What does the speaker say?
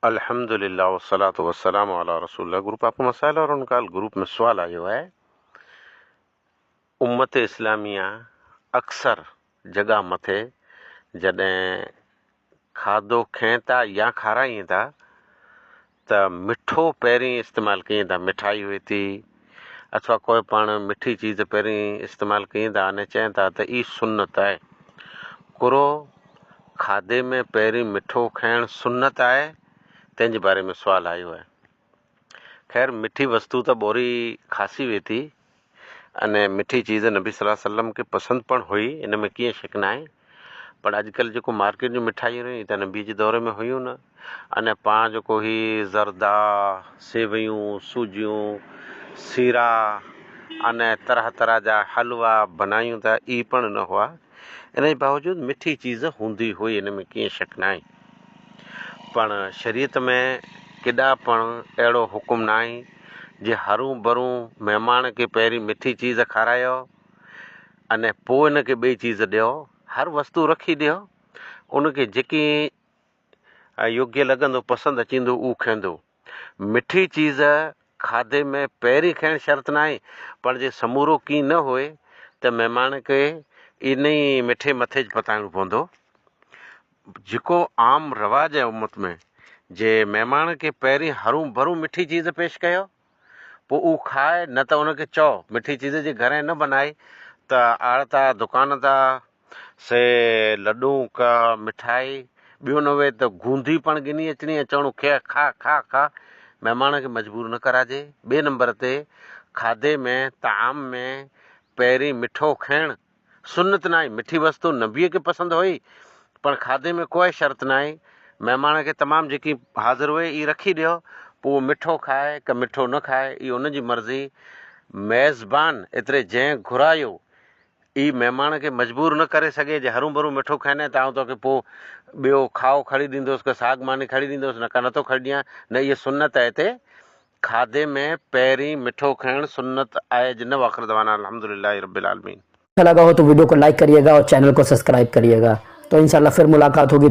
الحمد لله والصلوة والسلام علي رسول الله گروپ آپ ڪو مسائل اور ان ڪال گروپ ۾ سوال آيو آهي امت اسلاميه اڪثر جڳهه مٿي جڏهن کاڌو کين ٿا يا کارائين ٿا ته مٺو پهرين استعمال ڪين ٿا مٺائي هئي ٿي اٿوا ڪوئي پاڻ مٺي چيز پهرين استعمال ڪين ٿا اني چين ٿا ته اي سنت آهي ڪرو کاڌي ۾ پهرين مٺو کائڻ سنت آهي تنهن جي باري ۾ سوال آيو آهي خير مٺي وستو ته ٻوري خاصي وي ٿي اني مٺي چيز نبي صلي الله عليه وسلم کي پسند پڻ هئي ان ۾ ڪيئن شڪ نه آهي پر اڄڪلهه جيڪو مارڪيٽ جون مٺايون رهيون هي ته نبيء جي دور ۾ هيون نه ان پاڻ جيڪو هي زردا، سيويون، سوجيون، سيرا ان طرح طرح جا حلوا بنايون ته اهي پڻ نه هئا ان جي باوجود مٺي چيز هوندي هئي ان ۾ ڪيئن شڪ ناهي پڻ شريعت ۾ ڪيڏا پڻ اهڙو حڪم ناهي جي هرون برون مهمان کي پهرين مٺي چيز کارايو اني پوء ان کي ٻئي چيز ڏيو، هر وستو رکي ڏيو، ان کي جيڪي يوگيه لڳندو، پسند اچيندو، اهو کائيندو. مٺي چيز کاڌي ۾ پهرين کائڻ شرط ناهي، پر جي سمورو ڪين نه هئي ته مهمان کي انهي مٺي مٿي ج پتائڻو پوندو. جيڪو عام رواج آهي امت ۾ جي مهمان کي پهرين هرون برون مٺي چيز پيش ڪيو. پوء اهو کاء نه ته ان کي چئو مٺي چيز جي گهرين نه بنائي ته آڙتا دڪان تا سي لڏون ڪا مٺائي ٻيو نه وي ته گونڌي پڻ گني اچڻي ۽ چوڻو کي کاء کاء کاء مهمان کي مجبور نه ڪراجي ٻئي نمبر تي کاڌي ۾ طعام ۾ پهرين مٺو کائڻ سنت ناهي، مٺي وستو نبيء کي پسند هئي، پر کاڌي ۾ ڪوئي شرط ناهي، مهمان کي تمام جيڪي حاضر هئي اهي رکي ڏيو، پوء اهو مٺو کائي ڪه مٺو نه کائي اهي ان جي مرضي، ميزبان ايتري جنهن گهرايو اهي مهمان کي مجبور نه ڪري سگهي جي هرون ڀرون مٺو کائيندين ته آئون توکي پوء ٻيو کاهو کڻي ڏيندوس ڪه ساڳ ماني کڻي ڏيندوس نه ڪه نه ٿو کڻي ڏيان نه اهي سنت اهي تي کاڌي ۾ پهرين مٺو کائڻ سنت آهي جنھن واخر دعوانا الحمد لله رب العالمين. اچھا لگا ھو تو ويڊيو کو لائيڪ ڪريئي گا اور چينل کو سبسڪرائب ڪريئي گا تو انشاء اللّٰه پھر ملاقات ھوگي.